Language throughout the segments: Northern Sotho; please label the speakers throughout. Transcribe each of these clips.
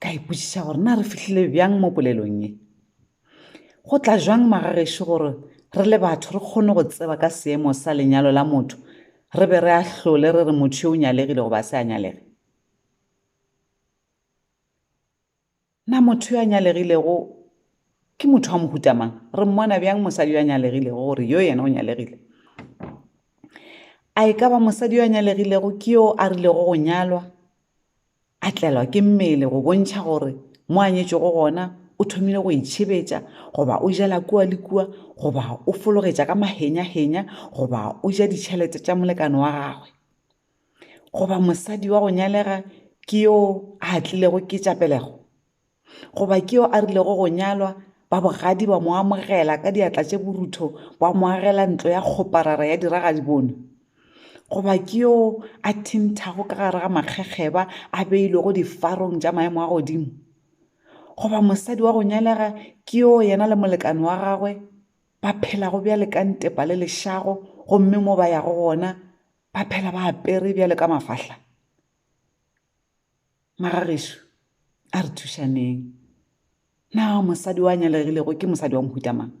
Speaker 1: ka ipotšiša gore na re fihlile bjang mo polelong ye go tla jwang magagešo gore re le batho re kgone go tseba ka seemo sa lenyalo la motho re be re ahlole re re motho yo o nyalegile goba se a nyalege na motho yo a nyalegilego ke motho wa mohutamang re mmona bjang mosadi yo a nyalegilego gore yo yena o nyalegile a e ka ba mosadi yo a nyalegilego ke yo a rilego go nyalwa A tlelwa ke mmele go bontšha gore mo a nyetšwego gona o thomile go itšhebetša, goba o jela kua le kua, goba o fologetša ka mahenyahenya, goba o ja ditšhelete tša molekane wa gagwe. Goba mosadi wa go nyalega ke yo a tlilego ke tša pelego. Goba ke yo a rilego go nyalwa, ba bogadi ba mo amogela ka diatla tše borutho, ba mo agela ntlo ya kgoparara ya diragadibone? Goba ke yo a thinthago ka gare ga makgekgeba a beilwego difarong tša maemo a godimo? Goba mosadi wa go nyalega ke yo yena le molekane wa gagwe ba phelago bjale ka ntepa le lešago gomme mo ba yago gona ba phela ba apere bjale ka mafahla? Magagešu, a re thušaneng. Na mosadi wa nyalegilego ke mosadi wa mohuta mang?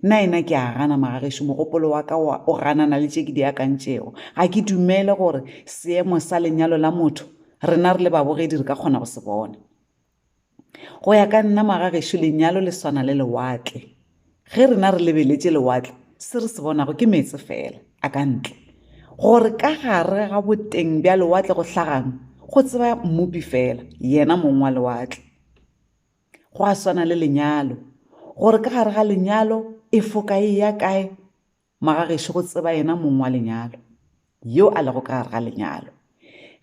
Speaker 1: Nna ena ke a gana, Magagešu, mogopolo wa ka wa o ganana le tše ke di akantšego. Ga ke dumele gore seemo sa lenyalo la motho rena re le babogedi re ka kgona go se bona. Go ya ka nna, Magagešu, lenyalo le swana le lewatle. Ge rena re lebeletše lewatle, se re se bonago ke meetse feela a ka ntle. Gore ka gare ga boteng bja lewatle go hlaga'ng, go tseba Mmopi feela, yena Mong wa lewatle. Gwa swana le lenyalo, gore ka gare ga lenyalo e foka e eya kae, Magagešo go tseba yena mong wa lenyalo, yo a lego ka gare ga lenyalo.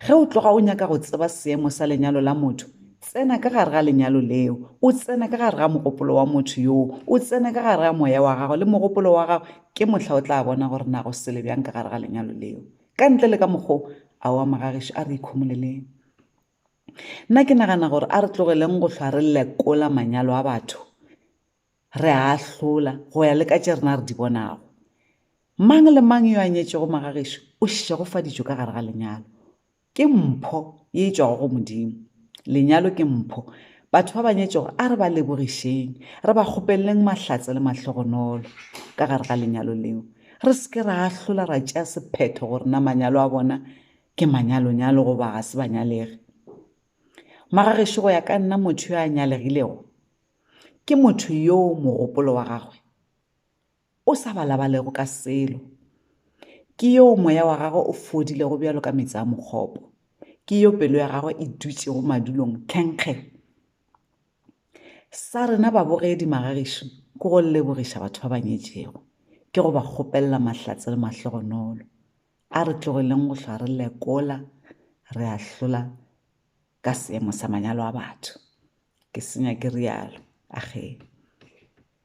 Speaker 1: Ge o tloga o nyaka go tseba seemo sa lenyalo la motho, tsena ka gare ga lenyalo leo, o tsene ka gare ga mogopolo wa motho yoo, o tsene ka gare ga moya wa gagwe le mogopolo wa gagwe, ke mohla o tla bona gore na go sele bjang ka gare ga lenyalo leo. Ka ntle le ka mokgwa o, aowa magagešo, a re ikhomoleleng. Nna ke nagana gore a re tlogeleng go hlwa re lekola manyalo a batho. re a ahlola go ya le ka tše rena re di bonago. Mang le mang yo a nyetšego magagešo o šegofaditšwe ka gare ga lenyalo. Ke mpho ye e tšwago go Modimo. Lenyalo ke mpho. Batho ba ba nyetšego a re ba lebogišeng, re ba kgopeleleng mahlatse le mahlogonolo ka gare ga lenyalo leo. Re se ke ra ahlola ra tšea sephetho gore na manyalo a bona ke manyalonyalo goba ga se banyalege. Magagešo go ya ka nna motho yo a nyalegilego Ke motho yoo mogopolo wa gagwe o sa balabalego ka selo. Ke yoo moya wa gagwe o fodilego bjalo ka meetse a mokgopo. Ke yo pelo ya gagwe e dutšego madulong tlhenkge. Sa rena babogedi magagišo ke go lebogiša batho ba ba nyetšego, ke go ba kgopelela mahlatse le mahlogonolo. A re tlogeleng go hlwa re lekola, re ahlola ka seemo sa manyalo a batho, ke senya ke realo, a ge.